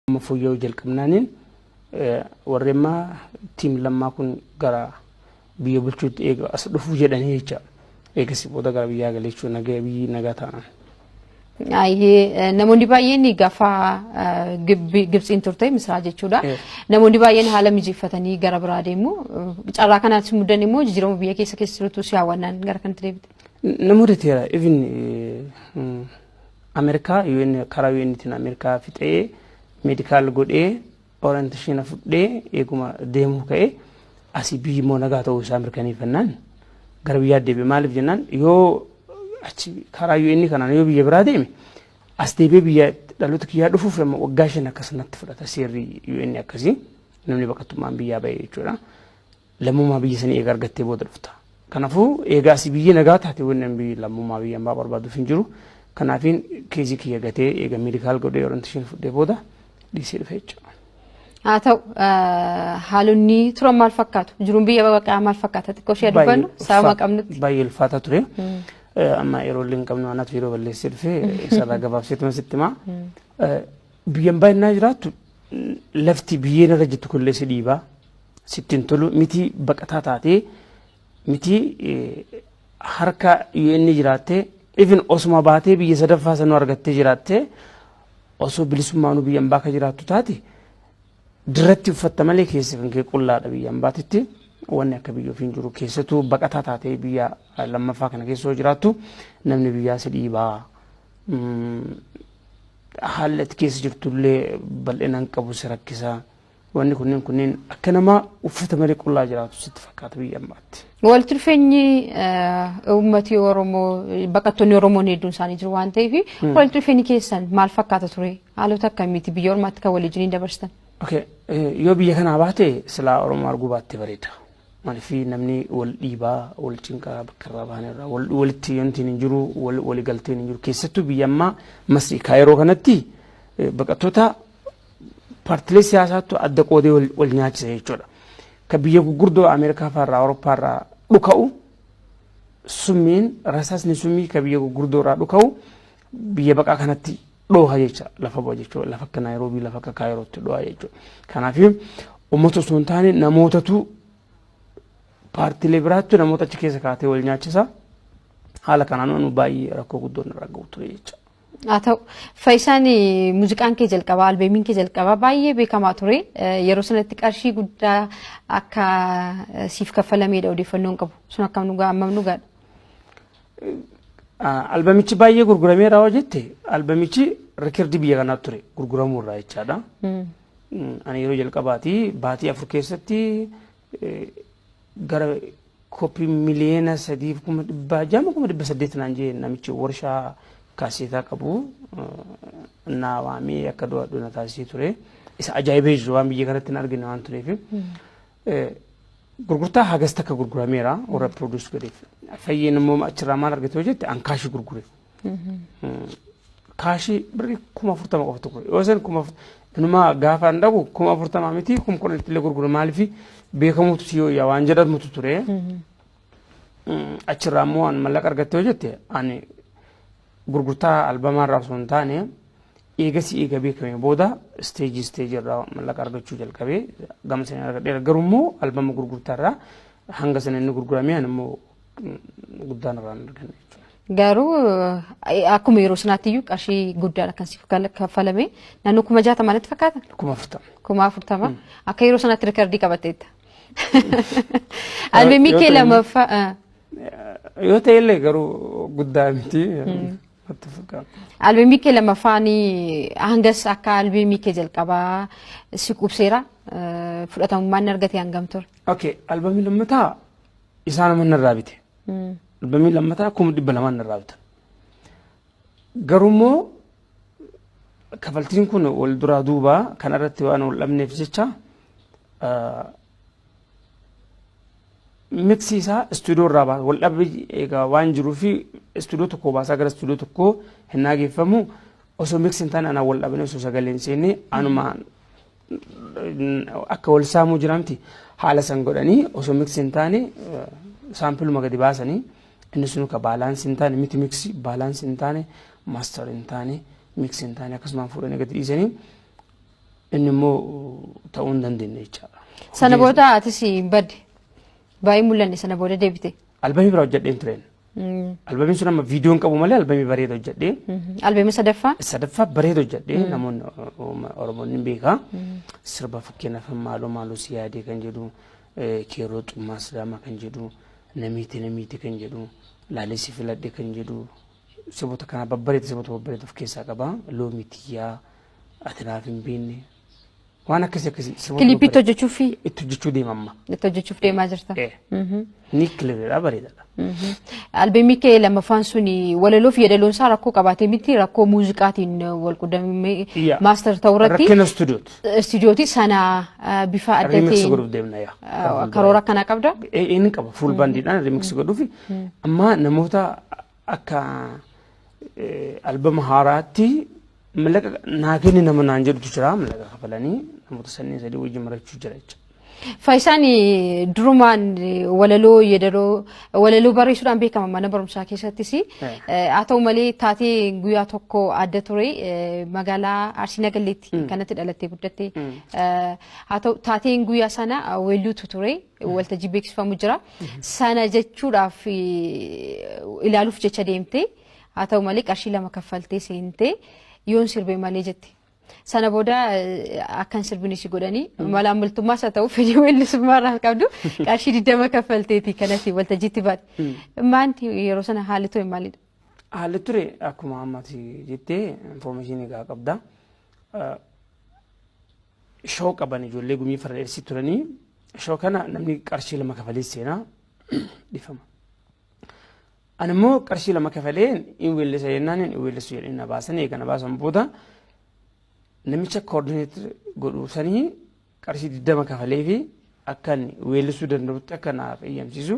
Amma fooyya'uu jalqabnaaniin warri amma tiim lammaa kun gara biyya bulchuutti eega as dhufu jedhanii jecha eegasii booda gara biyyaa galee jechuudha nagaa biyyi nagaa taanaan. Ayyee namoonni baay'een gaafa Gibtsiin turte Misiraa jechuudha. Namoonni baay'een haala mijeeffatanii gara biraa deemu. Carraa kanaatti si mudan immoo jijjiirama biyya keessa keessa jirutu si hawwannaan gara kanatti deebite. Namoota teera even Amerikaa UN karaa UNtiin Amerikaa fixee meedikaal godhee orienteeshina fudhee eeguma deemuu ka'ee asii biyyi immoo nagaa ta'uu isaa mirkaneeffannaan gara biyyaatti deebi'e maaliif jennaan yoo achi karaa UN kanaan yoo biyya biraa deeme as deebi'ee biyya dhaloota kiyyaa dhufuuf amma waggaa shan akkas natti fudhata seerri UN akkasii namni baqattummaan biyyaa ba'e jechuudha. Lammummaa biyya sanii eega argattee booda dhufta. Kanafuu eega asii biyyi nagaa taate wanneen biyyi lammummaa biyya ambaa barbaaduuf hin jiru. Kanaafiin keezii kiyya gatee eega meedikaal godhee orientation fudhee booda dhiisee dhufe jechuudha. Haa ta'u haalonni turan maal fakkaatu? Jiruun biyya baqaa maal fakkaata? Xiqqoo ishee dubbannu sababa qabnutti. Baay'ee ulfaataa ture. Amma yeroo illee hin qabnu anaatu yeroo balleessee dhufe isarraa gabaabseetuma sitti himaa. Biyyan baay'inaa jiraattu lafti biyyeen irra jirtu kunillee si dhiibaa. sitti hin tolu mitii baqataa taatee mitii harka UN jiraattee even osuma baatee biyya sadaffaa sanuu argattee jiraattee osoo bilisummaanuu biyya ambaa akka jiraattu taate dirratti uffatta malee keessa kan kee qullaadha biyya ambaatitti wanni akka biyya ofiin jiru keessattuu baqataa taatee biyya lammaffaa kana keessa yoo jiraattu namni biyyaa si dhiibaa haalli ati keessa jirtullee bal'inaan qabu si rakkisaa. Wanni kunneen kunneen akka namaa uffata malee qullaa jiraatu sitti fakkaata biyya ammaatti. Walitti dhufeenyi uummati Oromoo baqattoonni Oromoon hedduun isaanii jiru waan ta'eef walitti dhufeenyi keessan maal fakkaata ture? Haalota akkamiiti biyya ormaatti kan waliin dabarstan? Okay. Yoo biyya kanaa baate silaa Oromoo arguu baatte bareeda. Maaliif namni wal dhiibaa, wal cinqaa bakka irraa bahan irraa walitti wanti hin jiru, waligalteen hin jiru. Keessattuu biyya ammaa Masrii Kaayiroo kanatti baqattoota paartilee siyaasaattu adda qoodee wal, wal nyaachisa jechuudha. Ka biyya gurguddoo Ameerikaa fa'arraa Awurooppaa irraa dhuka'u summiin rasaasni summii ka biyya gurguddoo irraa dhuka'u biyya baqaa kanatti dhooha jecha lafa bu'a jechuudha. Lafa akka Naayiroobii lafa akka Kaayirootti dhooha jechuudha. Kanaaf uummata osoo hin taane namootatu paartilee biraattu namoota achi keessa kaatee wal nyaachisa. Haala kanaan baay'ee rakkoo guddoon irraa ga'u ture jechuudha. haa ta'u faayisaan muuziqaan kee jalqabaa albeemiin kee jalqabaa baay'ee beekamaa ture yeroo sanatti qarshii guddaa akka siif kaffalameedha odeeffannoon qabu sun akkam dhugaa ammam dhugaadha. Albamichi baay'ee gurgurameera hoo jette albamichi rikirdii biyya kanaa ture gurguramuurraa jechaadha. Ani yeroo jalqabaati baatii afur keessatti gara koppii miliyoona sadiif kuma dhibbaa jaama kuma dhibba saddeet naan jee namichi warshaa kaaseetaa qabu naa waamee akka do'adhu na taasisee ture. Isa ajaa'ibee jiru waan biyya kanatti hin argine waan tureef. Gurgurtaa hagas takka gurgurameera warra produce godheef. Fayyeen immoo achirraa maal argate yoo jette ankaashii gurgure. kaashii birrii kuma afurtama qofa tokko yoo san kuma inumaa gaafa hin dhagu kuma afurtama miti kuma kudhan itti illee gurgura maaliif beekamuutu si yoo yaa waan jedhamutu ture achirraa immoo waan mallaqa argatte yoo jette ani gurgurtaa albamaa irraa osoo hin taane eegasi eega beekame booda isteejii isteejii irraa mallaqa argachuu jalqabee gama sana argadheera garuu immoo albama gurgurtaa irraa hanga sana inni gurguramee ani immoo guddaan irraa hin arganne jechuudha. Garuu eh, akkuma yeroo sanaatti iyyuu qarshii guddaan akkan siif gal- kaffalame naannoo kuma jaatama natti fakkaata. Kuma afurtama. Kuma afurtama akka yeroo sanaatti rikardii qabatteetta. Albeemii yoo kee ta'e- lamaffaa eh, Yoo ta'e illee garuu guddaa miti. Natti fakkaata. albeemii kee lamaffaan hangas akka albeemii kee jalqabaa si qubseera eh, fudhatamummaan ni argate hangam ture. Okay, albamii lammataa isaan amma narraa bite. Albamii lammataa kuma dhibba lamaan narraa bitan. Garuu immoo kafaltiin kun wal duraa duubaa kana irratti waan wal dhabneef jecha miksi isaa istuudiyoo irraa baasa wal dhabbi egaa waan jiruu fi istuudiyoo tokkoo baasaa gara istuudiyoo tokkoo hin naageeffamu osoo miksi hin taane anaa wal dhabne osoo sagalee hin seenne anuma akka wal saamuu jiraamti haala san godhanii osoo miksi hin taane saampiluma gadi baasanii inni sun ka baalaansi hin taane miti miksi baalaansi hin taane maastar hin taane miksi hin taane akkasumaan fuudhanii gadi dhiisanii inni immoo ta'uu hin dandeenye jechaadha. Sana booda atis badde baay'ee mul'anne sana booda deebite. Albamii biraa hojjedheen tureen. Albamiin sun amma viidiyoon qabu malee albamii bareeda hojjedhee. Albamii sadaffaa? Sadaffaa bareeda hojjedhee namoonni Oromoon ni beeka. Sirba fakkeenyaaf maaloo maaloo si yaadee kan jedhu keeroo xummaa sidaamaa kan jedhu namiiti namiiti kan jedhu laalee si filadhe kan jedhu sirboota kana babbareeda sirboota babbareeda of keessaa qaba. Loomii tiyyaa ati naaf hin beekne Waan akkasii akkasii si waliin Kiliippiitti hojjeta. hojjechuu fi Itti hojjechuu deema amma. itti hojjechuuf deemaa jirta. Eh. Mhm. Ni kilibidha bareedaadha. Mhm. Albeemii kee lammaffaan suni walaloo fi yeedaloon isaa rakkoo qabaatee miti rakkoo muuziqaatiin wal quddamee Iyyaa. maaster ta'uu irratti Rakkina istuudiyooti. istuudiyooti sana eh, bifa adda Remix ta'een godhuuf deemna yaa. eh, karoora akkanaa qabda. Eh, Inni qaba fuul baandiidhaan remix godhuufi amma namoota akka albama haaraatti mallaqa naa kenni nama naan jedhutu jira mallaqa kafalanii namoota sanneen sadii wajjin marachuu jira jechuudha. Faayisaan durumaan walaloo yeedaloo walaloo barreessuudhaan beekama mana barumsaa keessattis. Haa ta'u malee taatee guyyaa tokko adda ture magaalaa Arsii Nagalleetti kanatti dhalattee guddatte. Haa ta'u taateen guyyaa sana weelluutu ture. waltajjii beeksifamu jira. Sana jechuudhaaf ilaaluuf jecha deemtee haa ta'u malee qarshii lama kaffaltee seentee yoon sirbee malee jette. Sana booda akkan sirbine si godhanii malaan bultummaas haa ta'u fedhii weellisummaa irraa qabdu qarshii digdama kaffalteeti kanatti waltajjiitti baate. Maanti yeroo sana haalli ture maalidha? Haalli ture akkuma ammati jettee infoormeeshinii egaa qabda. Show qaban ijoollee gumii farra dheersii turanii show kana namni qarshii lama kafalee seenaa dhifama. Ani immoo qarshii lama kafalee hin weellisa jennaan hin weellisu jedhanii na baasan eega na baasan booda namicha koordineetir godhu sanii qarshii digdama kafalee fi akka weellisuu danda'utti akka naaf eeyyamsiisu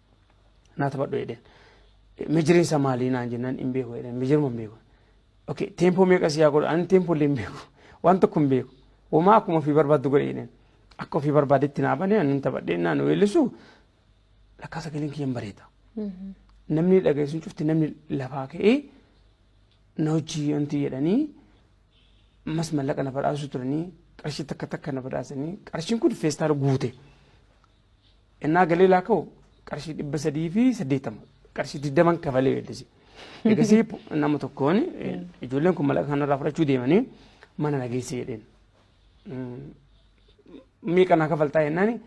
naa taphadhu jedheen. Mejiriin isaa maalii naan jennaan hin beeku jedheen mejiruma hin beeku. Okay teempoo meeqa si yaa godhu ani teempoo illee hin beeku waan tokko hin beeku. Homaa akkuma ofii barbaaddu godhe jedheen. Akka ofii barbaadetti naa banee ani taphadhee naan weellisu lakkaa sagaleen kiyyan bareeda. Namni dhageessuun cufti namni lafaa ka'ee na hojii wanti jedhanii mas mallaqa na badhaasuu turanii qarshii takka takka na badhaasanii qarshiin kun feestaala guute. Ennaa galee laaka'u qarshii dhibba sadii fi saddeettama qarshii digdaman kafalee weeddise. Eegasii nama tokkoon ijoolleen kun malaqa kanarraa fudhachuu deemanii mana na geesse jedheen. Meeqa naa kafaltaa jennaan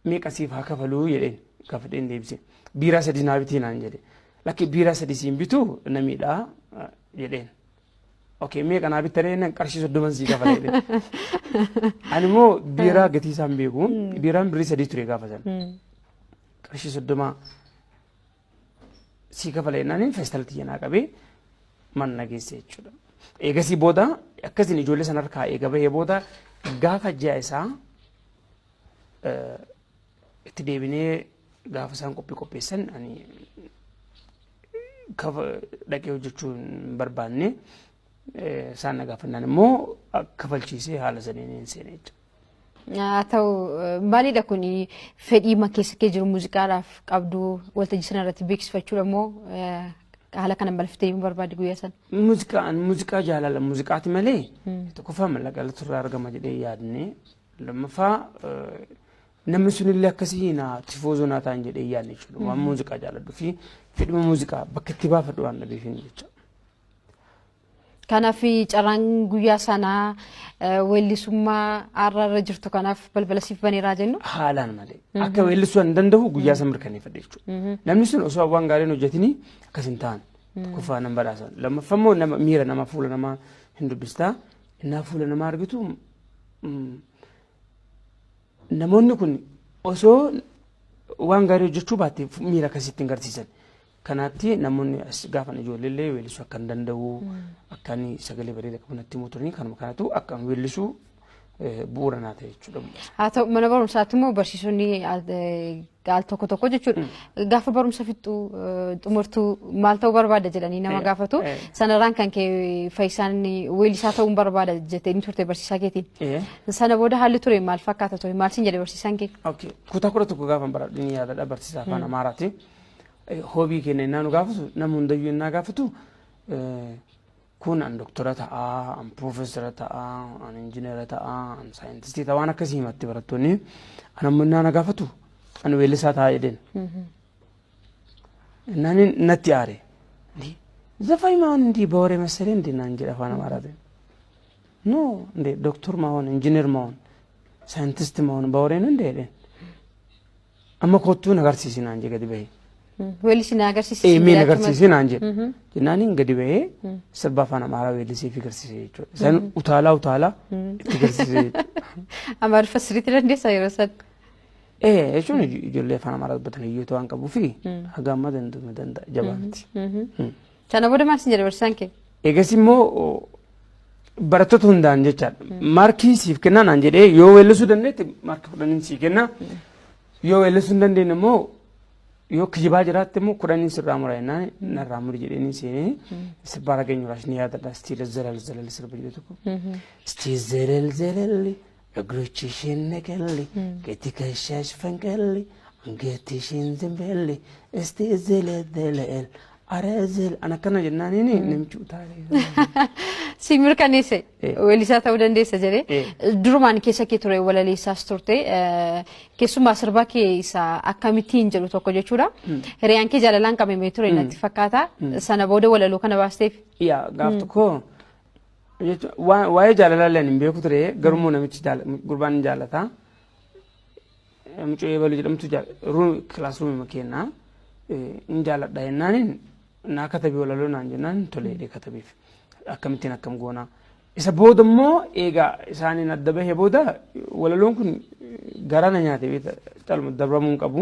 meeqa siif haa kafaluu jedheen gaafadheen deebise. Biiraa sadii naa bitii naan jedhe. Lakki biiraa sadii siin bituu na miidhaa jedheen. Okay, meeqa naa bittanii jennaan qarshii soddoman sii kafala jedhee. Ani immoo biiraa gatii isaa hin beeku. Biiraan birrii sadii ture gaafa sana. Qarshii soddomaa sii kafala jennaan feestal tiyya naa qabee manna geesse jechuudha. Eegasii booda akkasiin ijoollee sana harkaa eega bahee booda gaafa ji'a isaa eh, itti deebinee Gaafa isaan qophii qopheessan ani kafa dhaqee hojjechuu hin barbaanne eh, isaan na gaafannaan immoo kafalchiisee haala saniin hin seene jechuudha. Haa ta'u eh, maalidha kun fedhii ma keessa kee jiru muuziqaadhaaf qabdu waltajjii sana irratti beeksifachuudha moo eh, haala kana balfittee yommuu barbaadde guyyaa sana. Muuziqaan muuziqaa jaalala muuziqaati malee tokkoffaa mallaqa irratti irraa argama jedhee yaadne lammaffaa eh, Namni sunillee akkasii na tifoozoo naa ta'an jedhee yaadne jechuudha. Waan muuziqaa jaaladhu fi fedhuma muuziqaa bakka itti baafadhu waan dhabeefin jecha. Kanaaf carraan guyyaa sanaa eh, weellisummaa har'a irra jirtu kanaaf balbala siif baneeraa jennu. Haalaan malee. Akka weellisuu hin danda'u guyyaa san mirkaneeffadhe jechuudha. Namni sun osoo waan gaariin hojjetini akkas hin ta'an. Tokkoffaa nan badhaasan. Lammaffaa immoo nama miira namaa fuula namaa hin dubbistaa. Innaa fuula namaa argitu mm, Namoonni kun osoo waan gaarii hojjechuu baatte miira akkasii ittiin garsiisan. Kanaatti namoonni as gaafan ijoollee illee weellisuu akka hin danda'u akka inni sagalee bareeda qabu natti himuu turanii kanuma kanatu akka hin weellisuu bu'uura naa ta'e jechuudha. Haa ta'u mana barumsaatti immoo barsiisonni al tokko tokko jechuudha. Gaafa barumsa fixxu xumurtuu maal ta'uu barbaada jedhanii nama gaafatu. Sanarraan kan kee fayyisaan weellisaa ta'uun barbaada jettee ni turte barsiisaa keetiin. Sana booda haalli ture maal fakkaata ture maal siin jedhe barsiisaan kee? Kutaa kudha tokko gaafa baradhu ni yaadadha barsiisaa afaan Amaaraati. Hoobii keenya innaa nu gaafatu nama hundayyuu innaa gaafatu Kun an doktora ta'a, an piroofeesara ta'a, an injinera ta'a, an saayintistii ta'a waan akkasii himatti barattoonni. An ammoo innaa na gaafatu an weellisaa ta'a jedheen. Innaan inni natti aare. Ndi zafai maawwan ndi bawore masalee ndi naan jedha afaan amaaraatiin. No ndi doktor maawwan injiner maawwan saayintisti maawwan baworeen hunda jedheen. Amma kottuu na agarsiisi naan jedhe gadi bahee. Weellichi na agarsiisi. Ee mee na agarsiisi naan jedhe. Jennaaniin gadi bahee sirba afaan amaaraa weellisee fi agarsiise jechuudha. Isaan utaalaa utaalaa itti agarsiise jechuudha. Amaariffa sirriitti dandeessaa yeroo san. Ee jechuun ijoollee afaan amaaraa dubbatan hiyyoota waan qabuu fi haga amma danda'u danda'a jabaa miti. Sana booda maal sin jedhe barsiisaan kee? Eegas immoo barattoota hundaan jechaadha. Maarkii siif kennaa naan jedhee yoo weellisuu dandeette maarkii kudhaniin sii kenna. Yoo weellisuu hin dandeenye immoo yoo kijibaa jiraatte immoo kudhaniin sirraa mura jennaan narraa muri jedheenii seenee sirbaa rageenyu raas ni yaadadha istiila zelal zelal sirba jedhu tokko. Istiil zelal zelal Egroochi isheen naqalli, gati kashaas fanqalli, angeetti isheen zimballi, isti zelezele'el, arezel. An akkana jennaan inni namichi utaalee. Si mirkaneesse Eh. weellisaa ta'uu dandeessa jedhee Eh. durumaan keessa kee ture walaleessaas turte eh, keessumaa sirbaa kee isa akkamittiin jedhu tokko jechuudha. Hiriyaan kee jaalalaan qabamee ture natti fakkaata. Sana booda walaloo kana baasteef Yaa gaaf tokko jechuun waa- waa'ee jaalalaa illee ani hin beeku ture garuu immoo namichi jaala- gurbaan hin jaalata mucoo eebalu jedhamtu kilaasruumima keennaa hin jaaladha jennaaniin naa katabii walaloo naan jennaan tolee jedhee katabiif akkamittiin akkam goonaa isa booda immoo eegaa isaaniin adda bahee booda walaloon kun garaa na nyaate beekta calma dabramuu hin qabu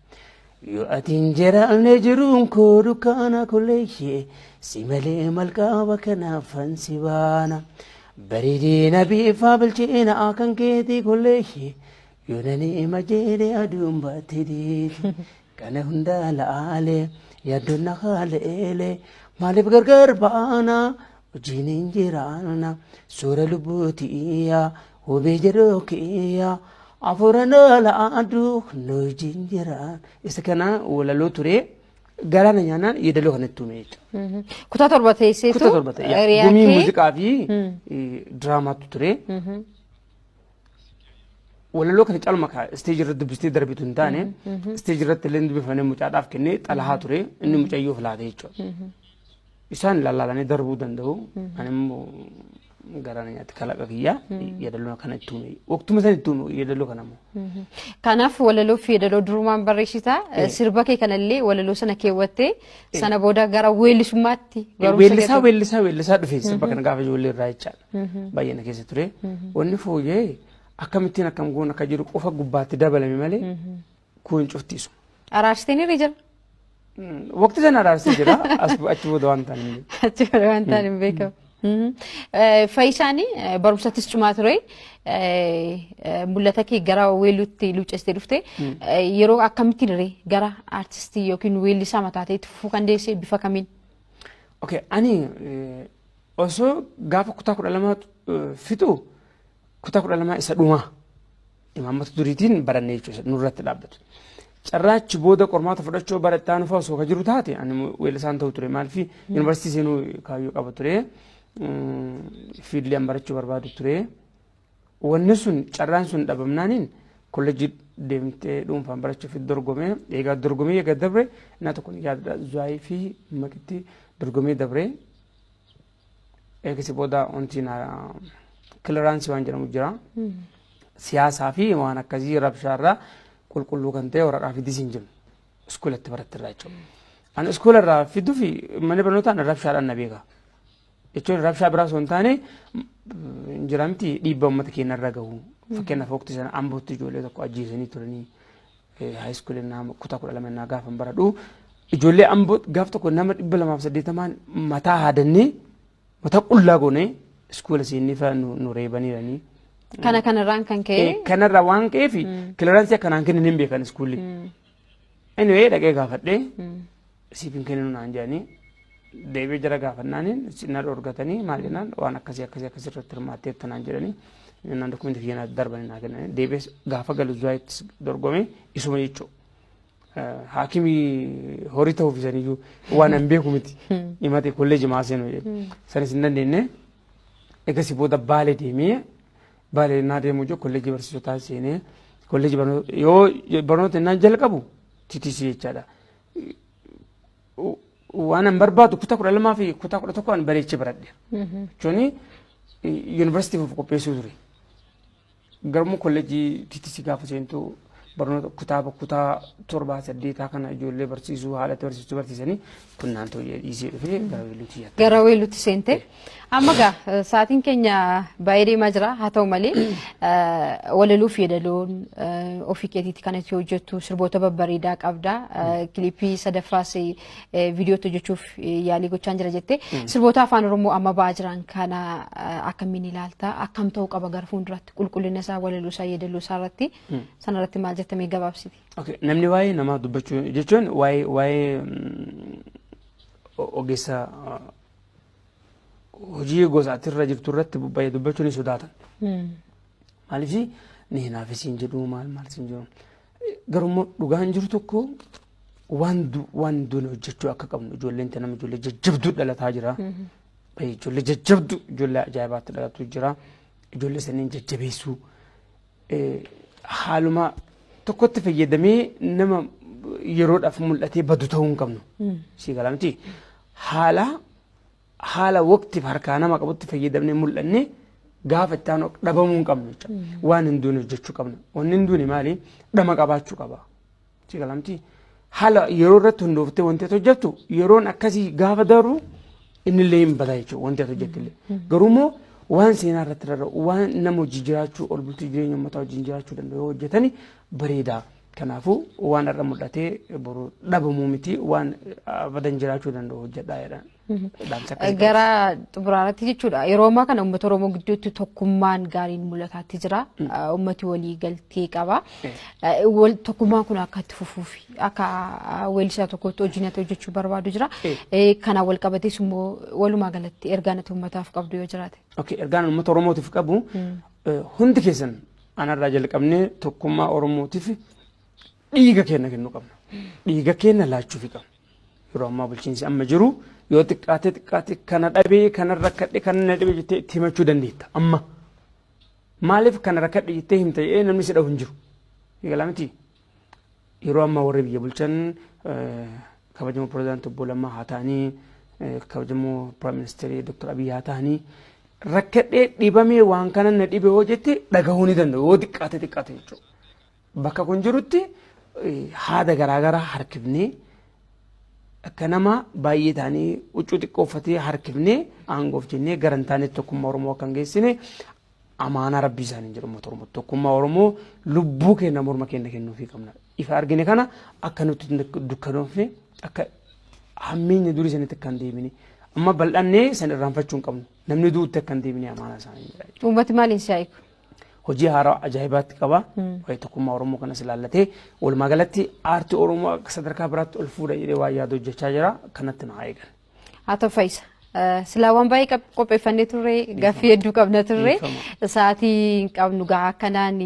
Yoo ati hin jiraanne jiruun koo dukkaana kolleeyye si malee malqaaba kanaafan si baana. Bareedina biifaa bilcheena kan keetii kolleeyye yoo nani ima jeede aduun baatti diiti. Kana hundaa la'aale yaaddoon na haaleele maaliif gargar baana wajjin hin jiraanna suura lubbuuti iyyaa Hubii jedhuu kiyya afuura loola aduu nu jinjiraan. Isa kana walaloo ture galaana nyaanaan yeedaloo kanatti uume jechuudha. Kutaa torba teesseetu. Kutaa torba ta'e. hiriyaa Gumii kee- muuziqaa fi eh, diraamaatu ture. Walaloo kana calma kaa isteejii irratti dubbistee darbitu hin taane isteejii irratti illee dubbifamee mucaadhaaf kennee xalahaa ture inni mucayyoof laate jechuudha. Isaan ilaalanii darbuu danda'u. Ani immoo garaan nyaatti kalaqa kiyyaa yeedaloo kana itti uume. Waqtuma sana itti uume yeedaloo kana immoo. Kanaaf walaloo fi yeedaloo durumaan barreessita. Sirba kee kanallee walaloo sana keewwattee sana booda gara weellisummaatti barumsa Weellisaa keetti- weellisaa weellisaa dhufe sirba kana gaafa ijoollee irraa jechaadha. Baay'ee na keessa ture. Wanni fooyyee akkamittiin akkam goon akka jiru qofa gubbaatti dabalame malee Kun cufti isuma. Araarsitanii ni jira. Waqtii sana araarsee jira. As achi booda waan ta'an hin beeku. Achi booda waan ta'an hin beekamu. Mhm. Eh, Fayyisaan eh, barumsattis cimaa ture. Eh, eh, Mul'ata kee gara weelluutti luuccestee dhufte. Eh, Yeroo akkamittiin irree gara aartistii yookiin weellisaa mataa ta'etti fufuu kan deesse bifa kamiin? Okay, ani eh, osoo gaafa kutaa kudha lama eh, fixu kutaa kudha lama isa dhumaa. Imaammata duriitiin barannee jechuudha nurratti dhaabbatu. Carraa achi booda qormaata fudhachuu bara itti aanu fa'aa osoo ka jiru taate ani weellisaan ta'u ture maaliif yuunivarsiitii seenuu kaayyoo qaba ture fiildiin barachuu barbaadu ture. Wanni sun carraan sun dhabamnaaniin kolleejjii deemtee dhuunfaan barachuuf dorgomee egaa dorgomee egaa dabre naa tokko ni yaadadha zuwaayii fi makitti dorgomee dabree eegisi booda wanti na kiliraansii waan jedhamu jira. Siyaasaa fi waan akkasii rabshaarraa qulqulluu kan ta'e waraqaa fidis hin jiru. Iskuulatti barattirraa jechuudha. Ani iskuularraa fiduu fi mana barnootaan rabshaadhaan na beeka. Jechuun rabshaa biraa osoo hin taane hin jiramti dhiibbaa uummata keenya irra gahu. Fakkeenyaaf waqtii sana ambootti ijoollee tokko ajjeesanii turanii. high school ennaa kutaa kudha lama ennaa gaafan baradhu ijoollee amboo gaaf tokko nama dhibba lamaaf saddeetamaan mataa haadannee mataa qullaa goonee iskuula siinni fa'a nu nu reebaniiranii. Kana kanarraan kan ka'e Eh, Kanarra waan ka'eef kilaransii akkanaan kennan hin beekan iskuulli. Anyway dhaqee gaafadhee siif hin kenninu naan jedhanii deebi'ee jara gaafannaan na dhorgatanii maal jennaan waan akkasii akkasii akkasii irratti hirmaatteetta naan jedhanii jennaan dokumeenti kiyya na darbanii naa kennanii deebi'ees gaafa galu zuwaayitti dorgomee isuma jechuu haakimii horii ta'uuf isaniyyuu waan hin beeku miti himate kolleeji maa seenu jedhe sanis hin dandeenye egasii booda baale deemee baale naa deemuu jiru kolleeji barsiisotaa seenee kolleeji barnoota yoo barnoota innaan jalqabu titisi jechaadha. waan an barbaadu kutaa kudha lamaa fi kutaa kudha tokko an bareechee baradhe. Jechuun yuunivarsiitiif of qopheessuu ture. Garuu kolleejjii TTC gaafa seentu barnoota kutaaba kutaa torbaa saddeetaa kana ijoollee barsiisuu haala itti barsiisuu barsiisanii kun naantoo dhiisee dhufee gara weelluutti yaadde. Gara weelluutti seentee? Amma egaa eh, sa'aatiin keenya baay'ee deemaa jira haa ta'u malee eh, walaloo fi yedaloon eh, ofii keetiitti kan itti hojjettu sirboota babbareedaa qabda eh, kilipii sadaffaas eh, viidiyoo itti hojjechuuf eh, yaalii gochaan jira jettee sirboota afaan oromoo amma ba'aa jiran kana eh, akkamiin ilaalta akkam ta'uu qaba gara fuulduraatti qulqullina isaa walaloo isaa yedaloo isaa irratti sana irratti maal jettamee gabaabsiti. Okay. Namni waa'ee namaa dubbachuu jechuun waa'ee waa'ee mm, o- ogeessa uh, hojii gosa ati irra jirtu irratti baay'ee dubbachuu ni sodaatan. Maaliif ni hinaaf isin jedhu maal maal isin jedhu. Garuu dhugaan jiru tokko waan waan duune hojjechuu akka qabnu ijoolleen tana ijoollee jajjabduu dhalataa jira. Ijoollee jajjabduu ijoollee ajaa'ibaatti dhalatuu jira. Ijoollee saniin jajjabeessuu. haaluma tokkotti fayyadamee nama yeroodhaaf mul'atee badu ta'uu hin qabnu. Sii galaa miti. Haala haala waqtiif harkaa nama qabutti fayyadamnee mul'anne gaafa itti aanu dhabamuu hin qabnu jechuudha. Waan hin duune hojjechuu qabna. Wanni hin duune maali? Dhama qabaachuu qaba. Si galamti haala yeroo irratti hundooftee wanti ati hojjettu yeroon akkasii gaafa darbu innillee hin bada jechuudha wanti ati hojjettillee. Garuu immoo waan seenaa irratti rarra'u waan nama hojii jiraachuu ol bultii jireenya uummataa wajjin jiraachuu danda'u yoo hojjetani bareeda. Kanaafuu waan har'a mul'atee boru dhabamuu miti waan abadan jiraachuu danda'u hojjedhaa jedhan. Dhaamsa akka eegalu. Gara xumuraarratti jechuudha. Yeroo ammaa kana uummata Oromoo gidduutti tokkummaan gaariin mul'ataatti jira. Uummati walii galtee qaba. Wal- Tokkummaan kun akka itti fufuuf akka weellisaa tokkotti hojiin ati hojjechuu barbaadu jira. Eh, Kana wal qabatees immoo walumaa galatti ergaan ati uummataaf qabdu yoo jiraate. Okay, ergaan uummata Oromootiif qabu eh, hundi keessan anarraa jalqabnee tokkummaa Oromootiif dhiiga keenya kennu qabna. Dhiiga keenya laachuufi qabna. Yeroo ammaa bulchiinsi amma jiru yoo xiqqaatee xiqqaatee kana dhabee kana rakkadhe kana na dhabe jettee itti himachuu dandeetta amma. Maaliif kana rakkadhe jettee himta jedhee namni si dhabu hin jiru. Eegalaa miti. Yeroo ammaa warri biyya bulchan kabajamoo pirezidaantii obbo Lammaa haa ta'anii kabajamoo piraayim ministeerii Dr. Abiyyi haa ta'anii rakkadhee dhibamee waan kana na dhibe yoo jette dhagahuu ni danda'u yoo xiqqaate xiqqaate jechuudha. Bakka kun jirutti haada garaa garaa harkifnee akka nama baay'ee taanii huccuu xiqqoo uffatee harkifnee aangoof jennee gara hin taanetti tokkummaa Oromoo akka hin geessine amaanaa rabbii isaaniin jedhu uummata Oromoo tokkummaa Oromoo lubbuu keenya morma keenya kennuufii qabna. Ifa argine kana akka nutti dukkanoofne akka hammeenya durii sanitti akka hin deebine amma bal'annee san irraanfachuu hin qabnu namni du'utti akka hin deebine amaanaa isaanii jedha. Uummati maaliin si'aa'iku? hojii haaraa ajaa'ibaatti qaba. Waa'ee tokkummaa Oromoo kanas ilaallatee walumaa galatti aartii Oromoo akka sadarkaa biraatti ol fuudha jedhee waa yaada hojjechaa jira. Kanatti nu haa eegan. Haa ta'u fayyisa. Silaa waan baay'ee qab- qopheeffannee turre gaffii hedduu qabna turre Dhiifama. sa'aatii hin qabnu gahaa akkanaan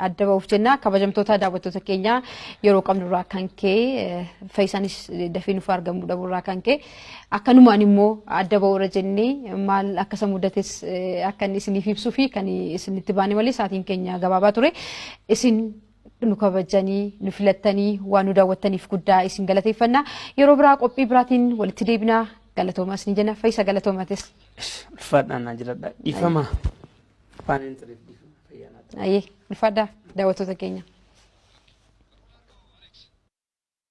adda ba'uuf jenna kabajamtoota daawwattoota keenyaa yeroo qabnu irraa kan ka'e fayyisaanis dafee nuuf argamuu dhabuu irraa kan ka'e Akkanumaan immoo adda ba'uura jennee maal akka isa mudates eh, akka inni isiniif ibsuu fi kan isinitti baane malee sa'aatiin keenya gabaabaa ture. Isin nu kabajanii, nu filattanii, waan nu daawwattaniif guddaa isin galateeffanna. Yeroo biraa qophii biraatiin walitti deebinaa galatoomaa isin jenna. Fayyisa galatoomatis. Ulfaadhaan naa jiradha. Dhiifama. Afaan hin tureef dhiifama. Fayyaa naa ta'u. Ayyee, ulfaadhaa daawwattoota keenya.